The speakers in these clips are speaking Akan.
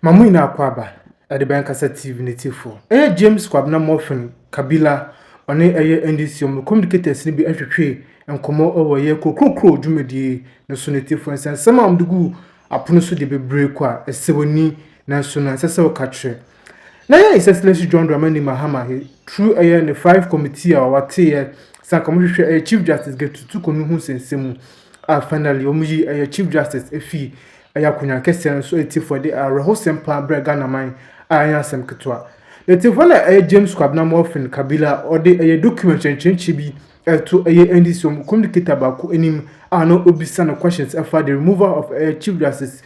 Ma mo nyinaa kɔ aba, ɛde bɛn kasa TV ne tifo? Ɛyɛ James Kwabena Murphy Kabila ɔne ɛyɛ NDC ɔmo communicators no bi ɛtwetwee nkɔmɔ ɛwɔ ɛyɛ kuro kronkron dwumadie no so ne tifo nsɛnsɛm a ɔmo de guu apono so deɛ bebree kɔ a ɛsɛ w'ani nanso na ɛnsɛ sɛ woka kyerɛ Na yɛ His Excellency John Dramani Mahama he through ɛyɛ ne five committee a wɔateeɛ sa nka wɔhwehwɛ ɛyɛ Chief Justice Getutu Konu ho nsɛnsɛm mu a finally wɔn yi ɛyɛ Chief Justice efii ɛyɛ akonnwa kɛseɛ no so atiefoɔ de awerɛhosɛm paa brɛ Ghana man a ɛnyɛ asɛm ketewa. Na atiefoɔ na ɛyɛ James Kwabena Morphine Kabila a ɔde ɛyɛ document kyerɛkyerɛkyerɛ bi ɛto ɛyɛ NDC wɔn communicator baako anim a na obisa no questions ɛfa the removal of ɛyɛ Chief Justice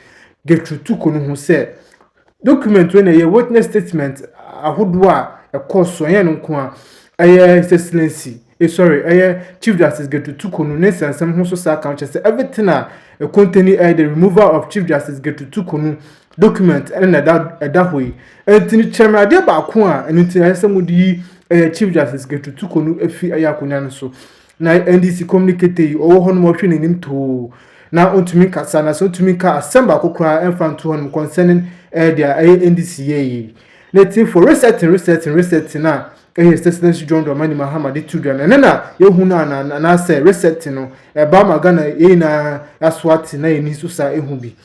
Getutu Konu ho sɛ Document wei na ɛyɛ witness statement ahodoɔ a ɛkɔɔ so ɛnyɛ no nko a ɛyɛ His Excellency eh, sorry ɛyɛ Chief Justice Getu Tukunu ne nsɛnsɛm ho so saa kan kyerɛ sɛ everything a ɛkontani ɛyɛ the removal of Chief Justice Getu Tukunu document ɛne na ɛda ɛda hɔ yi ɛnti no kyerɛ me adeɛ baako a ɛno nti ɛyɛ sɛ mo de yi ɛyɛ Chief Justice Getu Tukunu efi ɛyɛ akonnwa no so Na NDC communicator yi ɔwɔ hɔ nom ɔhwɛ n'anim too na ɔntumi nkasa na sɛ ɔntumi nka asɛm baako koraa ɛmfa nto hɔ nom concerning ɛyɛ deɛ ɛyɛ NDC yɛ yi na ti for resetting resetting resetting a ɛyɛ His Excellency John Dramani Mahama de tu dwa na ɛnɛ na yɛhu no ana anaasɛ resetting no ɛba ma Ghana yɛn nyinaa aso ate na yɛn ani nso saa ɛhu bi.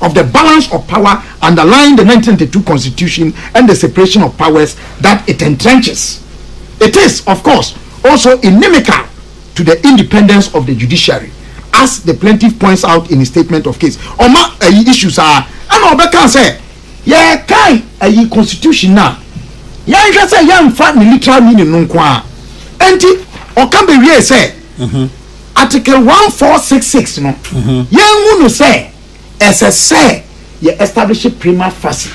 of the balance of power underlying the nineteen ninety two constitution and the separation of powers that it entrenches. It is, of course, also inimical to the independence of the judiciary, as the plaintiff points out in his statement of case. Ọma ayi issue saa, ɛna ɔbɛka sɛ yɛkan ayi constitution no a, yɛnhwɛ sɛ yɛmfa ne literal meaning no nko ara. Enti ɔka bewiee sɛ. Article one four six six no, yɛnhu no sɛ ɛsɛ sɛ yɛ establish prima facie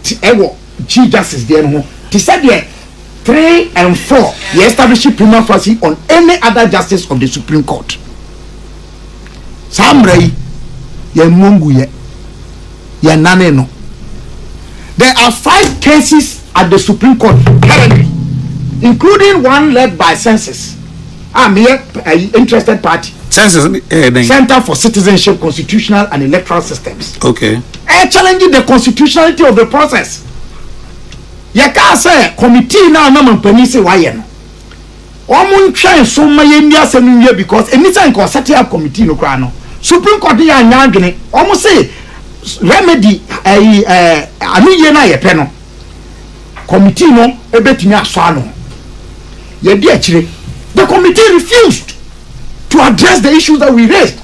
te ɛwɔ Chief Justice deɛ no ho te sɛ deɛ three and four yɛ establish prima facie on any other Justice of the Supreme Court. Saa mmara yi, yɛmmɔ nguiɛ, yɛnnane no. There are five cases at the Supreme Court currently, including one led by Census. a meyɛ ayi interested party. Census ɛyɛ eh, dɛn. Center for Citizenship, Constitutional and Electoral Systems. Okay. Ɛ eh, challenge the constitutionality of the process. Yɛ kaa sɛ committee na anam mpanyin sɛ wayɛ no. Wɔn ntwɛn so ma yɛn ni asɛm no wie because ɛni sɛ nka ɔsɛte up committee no koraa no. Supreme Court yɛ anya adwene. Wɔn se remedy ɛyi eh, ɛɛ eh, ano yie na yɛ pɛ no. Committee no ebetumi asɔ ano. Yɛadi akyire. The committee refused to address the issues that we raised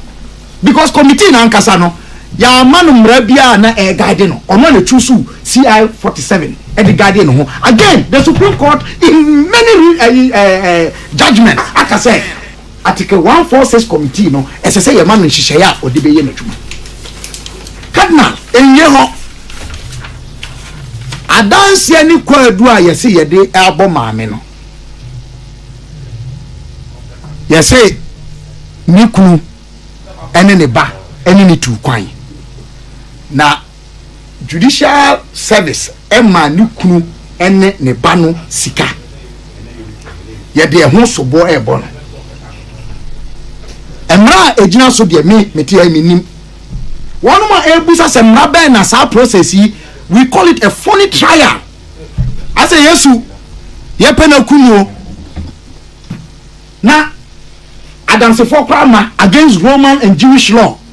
because committee no ankasa no, yɛamma no mmara biara a na ɛreguide no. Ɔno na ɛchuusuu CI 47 de guidee ne ho. Again, the Supreme Court in many re, uh, uh, judgments aka sɛ, Article one four six Kɔmitii no, ɛsɛ sɛ yɛma no nhyehyɛe a ɔde bɛyɛ n'adwuma. Cardinal. Nnye hɔ adanseɛ ne kwaadu a yɛse yɛde abɔ maame no. Yɛse ne kunu ne ne ba ne no tuu kwan, na. Judicial Service maa ne kunu ne ne ba no sika. Yɛde ɛho soboɔ rebɔ no. Mmara a ɛgyina so deɛ me mete ha menim. Wɔnom a ɛrebusa sɛ mmara bɛn na saa process yi, we call it a phony trial. Asɛ Yesu yɛpɛ no akum o. Na adansefoɔ koraa ma against Roman and Jewish law.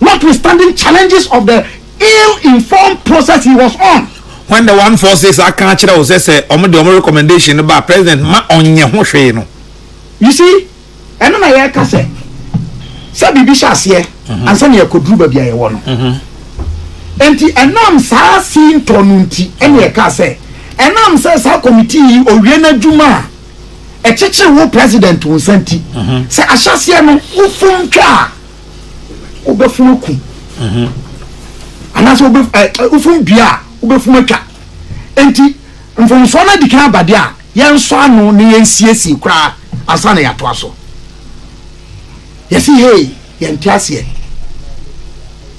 notwithstanding challenges of the ill informed process he was on. When the one four six aka akyerɛ wo sɛ sɛ wɔn de wɔn recommendation no ba president ma ɔnyɛ ho hwee no. You see, ɛno na yɛka sɛ sɛ biribi hyɛ aseɛ mhm. ansa na yɛkɔduru baabi a yɛwɔ no. Mhm. Nti ɛnam saa sintɔ no nti ɛna yɛka sɛ ɛnam sɛ saa committee yi owie n'adwuma a ɛkyekyere wo president wo nsa nti mhm. sɛ ahyɛseɛ no wofom twa a wobɛfom aku mhm. anaasɛ wofom dua a wobɛfom atwa enti mfomsoɔ no adi kan abadeɛ a yɛnsɔ ano ne yɛnsiesie koraa ansa na yɛatoa so yɛsi hei yɛnte aseɛ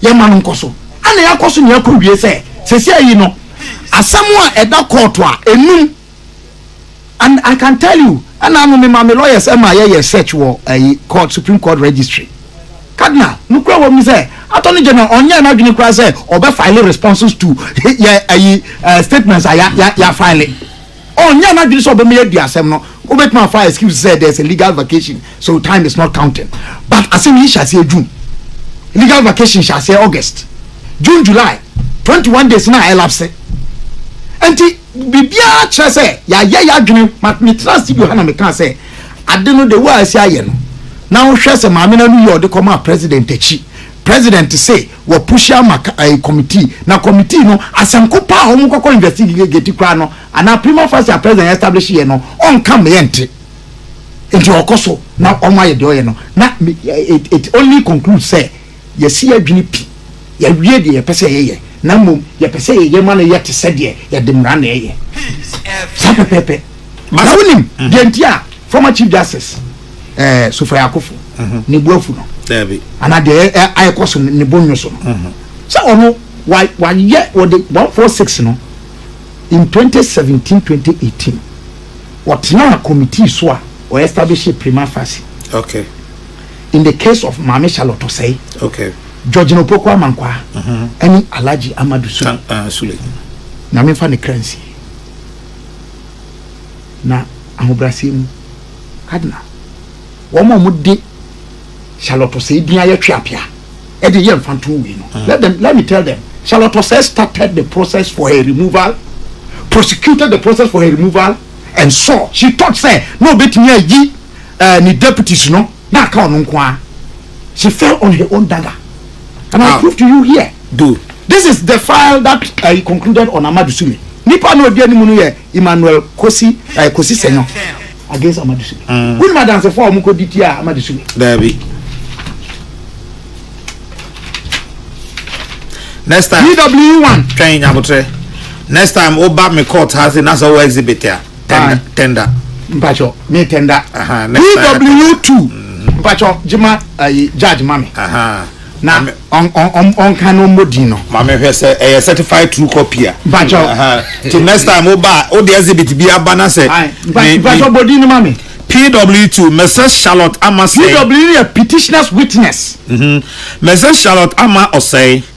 yɛma no nkɔ so ana yɛakɔ so ne yɛakɔ wie sɛ sɛsi ayi no asɛm a ɛda kɔɔto a ɛnum And I can tell you, ɛna ano mema me lawyers ɛma yɛ yɛ search wɔ ɛyi court supreme court registry. Cardinal, nukura wɔm ni sɛ attorney general ɔnyɛ n'adwene kura sɛ ɔbɛ file responses to yɛ ɛyi eh, statements a ya ya ya file. Ɔnyɛ n'adwene sɛ ɔbɛma yɛ di asɛm no. Wobɛtumi afa excuse sɛ there's a legal vacation so time is not counting. But asɛm yi hyɛ aseɛ June. Legal vacation hyɛ aseɛ August. June July 21 days na ɛlapse. Ɛnti. Biribiara kyerɛ sɛ yɛayɛ y'adwene ma metenaa studio ha na mekaa sɛ ade no the way a asi ayɛ no na wohwɛ sɛ maame no ano yie a ɔde kɔmaa president akyi president se wapushi ama ɛɛ committee na committee no asɛmko paa a wɔn kɔkɔ investigate koraa no anaa prima facie a president establish yɛ no ɔnka mmeɛ nte nti ɔkɔ so na wɔn ayɛ deɛ ɔyɛ no na it only conclude sɛ Yɛasi yɛn adwene pi, yɛawie deɛ yɛpɛ sɛ yɛyɛ, na mmom yɛpɛ sɛ yɛyɛ ma no yɛ te sɛ deɛ yɛde mmara na ɛyɛ. Saa pɛpɛɛpɛ. Na wonim deɛ nti a former Chief Justice eh, Sofrey Akuffo ne bo afu no? Daabi. Anaa deɛ ɛ- ɛ- a ɛkɔ so no, ne bo nnwo so no? Sɛ ɔno, wa- wayɛ, wɔde 146 no, in 2017, 2018, ɔtenaa committee so a ɔestablishee prima facie. Okay. In the case of Maame Charlotte Osei, okay. George Opoku Amankwaa, ɛne uh-huh. mm -hmm. Alhaji Amadu Sule. Uh, Sule. Na memfa ne kra nsie. Na ahobrɛaseɛ mu, kadena, wɔn a wɔde Charlotte Osei din ayɛ twe apea, ɛde yɛ mfa nto wei no. Uh-huh. Let them, let me tell them, Charlotte Osei started the process for her removal, prosecuted the process for her removal, and saw, she thought, say, no, bet me a ye. uh, ne deputies no na aka ɔno nko ara she fell on her own dagger and i prove to you here do this is the file that uh, he concluded on amadu sumi nipa na odi anim no yɛ emmanuel kosi uh, kosi senyo against amadu sumi mm. wúni ma dansefo a wɔn kò di tia amadu sumi. daabi. next time dw one twɛn nyabotrɛ next time wo ba me court ha se na sɛ wo exhibit a tɛnda tɛnda mpatsɔ ne tɛnda pw two mm-hmm. mpatsɔ gyima ayi judge mami na ɔnka no mmɔ din no. maame hwɛ sɛ ɛyɛ certified true copy a. mpatsɔ ti next time o ba o de exhibit bi aba na sɛ. mpatsɔ bɔ din no ma mi. pw two mrs charlotte ama sɛ. pw yɛ petitioners witness. mrs mm-hmm. charlotte ama ɔsɛe.